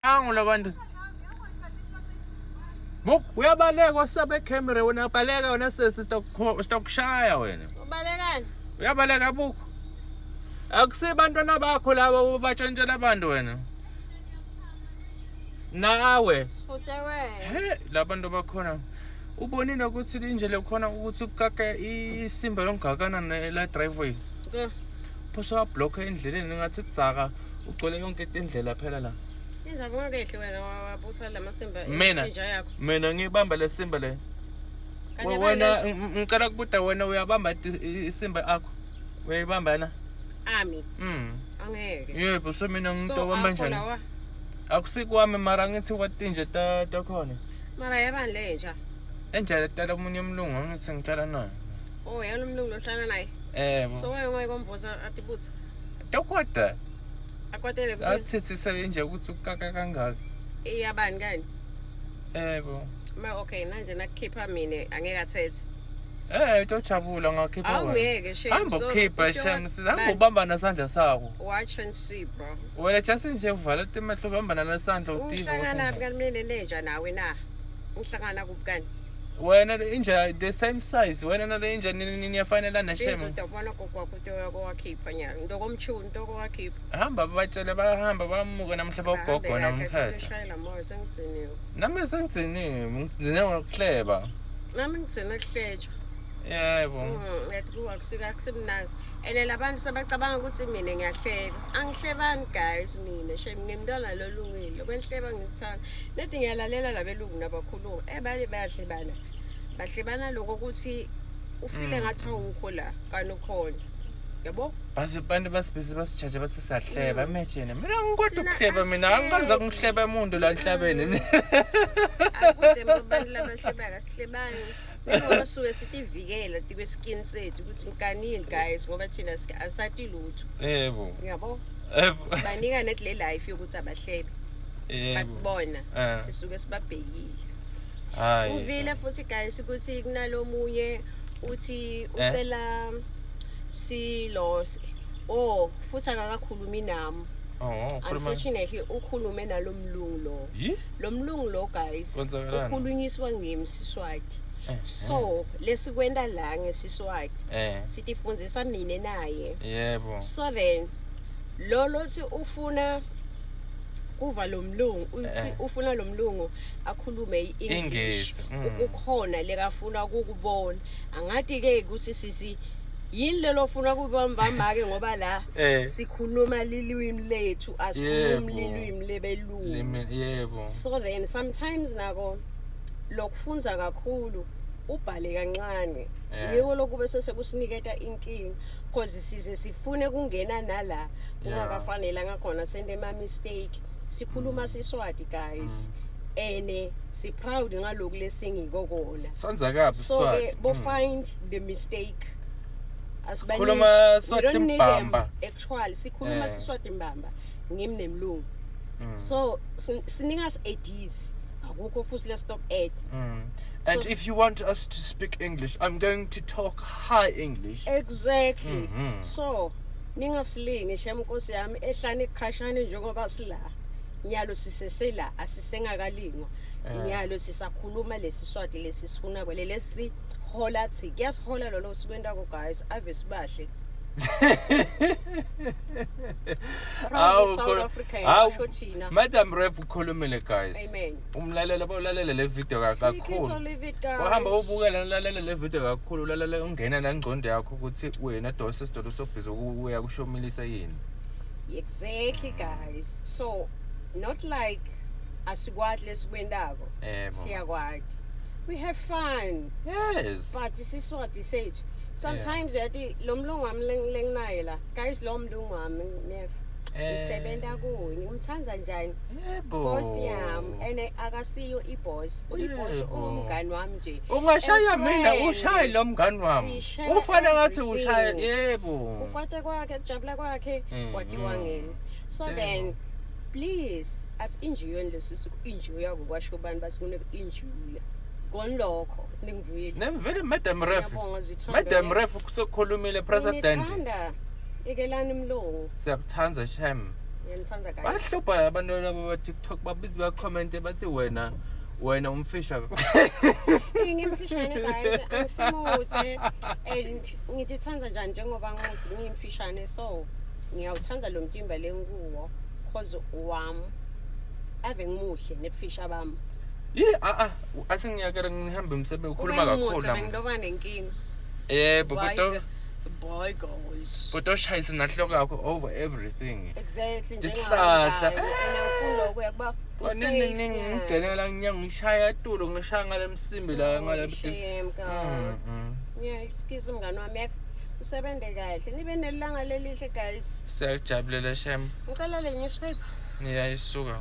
Angu labantu. Buk uyabaleka wasabe camera wena baleka wena sesi stock stock shaya wena. Ubalekani? Uyabaleka buk. Akusi bantwana bakho laba ubatshantshela abantu wena. Nawe. Futhi wena. He labantu bakhona. Ubonile ukuthi linje lekhona ukuthi ukukaka isimba yongakana la driveway. Yeah. phose wablokha endleleni ngathi dzaka ugcwele yonke indlela phela la injaba ungakehli wena wabutha la masimba mina mina ngibamba le simba le wena ngicela kubuda wena uyabamba isimba akho uyayibamba na ami mm angeke yebo so mina ngimuntu obamba njani akusikwami mara ngithi kwatinje takhona mara yabani le nja enjalo tala omunye umlungu angithi ngitala nayo Oh, yena umlungu lohlala naye. Eh. So wayo ngoye komboza athi butsa. Dokota. Akwatele kuthi. Athethisa nje ukuthi ukaka kangaka. Iyabani kani? Eh bo. Ma okay manje nakukhipha mina angeke athethe. Eh utojabula ngakhipha wena. Awungeke shame. Hamba ukhipha shame sizama ubamba nasandla sakho. Watch and see bro. Wena just nje uvala imehlo ubamba nasandla udiva. Uhlangana kanti mina nenja nawe na. Uhlangana kuphi kanti? wena le inja the same size wena nale inja ni- ni- niyafanelana shema benzodabana kokwakho into yakho wakhipha nyalo into komchuni into kowakhipha hamba batshele bahamba bamuke namhla bogogo namkhehla shayela moya sengigciniwe nami sengigciniwe ngigcine ngokuhleba nami ngigcine kuhletshwa yebo Mm, yathi kuwa kusika akusimnandi ene labantu sebacabanga ukuthi mina ngiyahleba angihlebani guys mina shem ngimntwana lolungile kwenhleba ngikuthanda Nedi ngiyalalela labelungu nabakhuluma eh baye bayahlebana bahlebana lokho ukuthi ufile mm. ngathi awukho la kanti ukhona yabo base abantu basibhizi basijaje bathi siyahleba mm. imagine mina ngikodwa ukuhleba mina angikaze kungihleba umuntu la nhlabeni mm. akude abantu labahlebaka sihlebani Ingoma suke sitivikela tikwe skin sethu ukuthi mkanini guys ngoba thina asati lutho. Yebo. Uyabo? Yebo. Sibanika net le life yokuthi abahlebe. Yebo. Bakubona eh. sisuke sibabhekile. Hayi. Uvile futhi guys ukuthi kunalomunye uthi eh? ucela silose. Oh, futhi akakakhulumi nami. Oh, unfortunately ukhulume nalomlungu lo. Yih? lo mlungu lo guys Kwenzakalani? ukhulunyiswa ngimi siswati Eh, so lesikwenta la ngesiswati eh sitifundzisa mina naye yebo so then lo lothi ufuna kuva lo mlungu uthi Eh. ufuna lo mlungu akhulume i-english Ingezi, mm. ukukhona lekafuna ukukubona angati-ke ukuthi sisi yini lelo funa kubambambake ngoba la Eh. sikhuluma lilwimi lethu asikhulumi Yebo. lilwimi lebelu Limit yebo. So then sometimes nako lokufunza kakhulu ubhale kancane Yeah. ngiko lokube sesekusiniketa inkinga because size sifune kungena nala kungakafanele ngakhona sente ma mistake sikhuluma siswati guys ene si proud ngaloku lesingiko kona Sanza kabi so ke swati. bo find the mistake Asibaniki. Khuluma You swati don't need them. mbamba. actual sikhuluma Eh. siswati mbamba ngimi nemlungu Mm. so sin- sinika us ideas akukho futhi let's stop at Mm. And So- if you want us to speak English, I'm going to talk high English. exactly Mhm. so ningasilingi shem nkosi yami ehlane kukhashane njengoba sila nyalo sisesela asisengakalingwa Eh. nyalo sisakhuluma lesi swati lesi sifuna kwele lesi hola thi kuyasihola lolo sikwentako guys ave sibahle madam ref ukhulumile guys umlalelo bawulalela le video kakhulu wahamba ubukela ulalela le video kakhulu ulalela ungena nangcondo yakho ukuthi wena dose sidodo sobhizi ukuya kushomilisa yini exactly guys so not like asikwati lesikwentako siyakwati we have fun yes but isiswati sethu sometimes uyati lo mlungu wami leng- lenginaye la guys lo mlungu wami nef Eh. ngisebenza kuye ngimthanda njani Yebo. boss yami and akasiyo iboss uyiboss Yebo. ungumngani wami nje Ungashaya And mina friend. ushaye lo mngani wami. Sishare Ufana ngathi everything. ushaye yebo. ukwate kwakhe kujabula kwakhe Mm, kwatiwa mm. ngini so Damn. then please asinjiyweni lesisi ku-injuya kukwasho abantu basikunike injuya konilokho Lingivuyile. Nemvile madam ref. Ngiyabonga zithando. Madam ref sekukhulumile president. Ngithanda ikelani mlungu. Siyakuthanda shem. Ngiyanithanda guys. Bahlupha abantu laba ba TikTok babizi ba comment bathi wena wena umfisha ngimfishane guys angisimuthe and ngithithanda njani njengoba ngithi ngimfishane so ngiyawuthanda lo mtimba lenguwo cause wam ave ngimuhle nebufisha bami yeah a a athi ngiyakela ngihambe emsebenzi ukhuluma kakhulu bengiloba nenkinga yebo kodwa boy goes kodwa ushayise nahloko yakho over everything exactly njengahlahla ngifuna lokho yakuba ngigcelela nginyanga ngishaya tulo ngishaya ngale msimbi la ngale mm, mm. yeah excuse mngani wami usebenze kahle nibe nelanga lelihle guys siyakujabulela shem ngicela le newspaper niyayisuka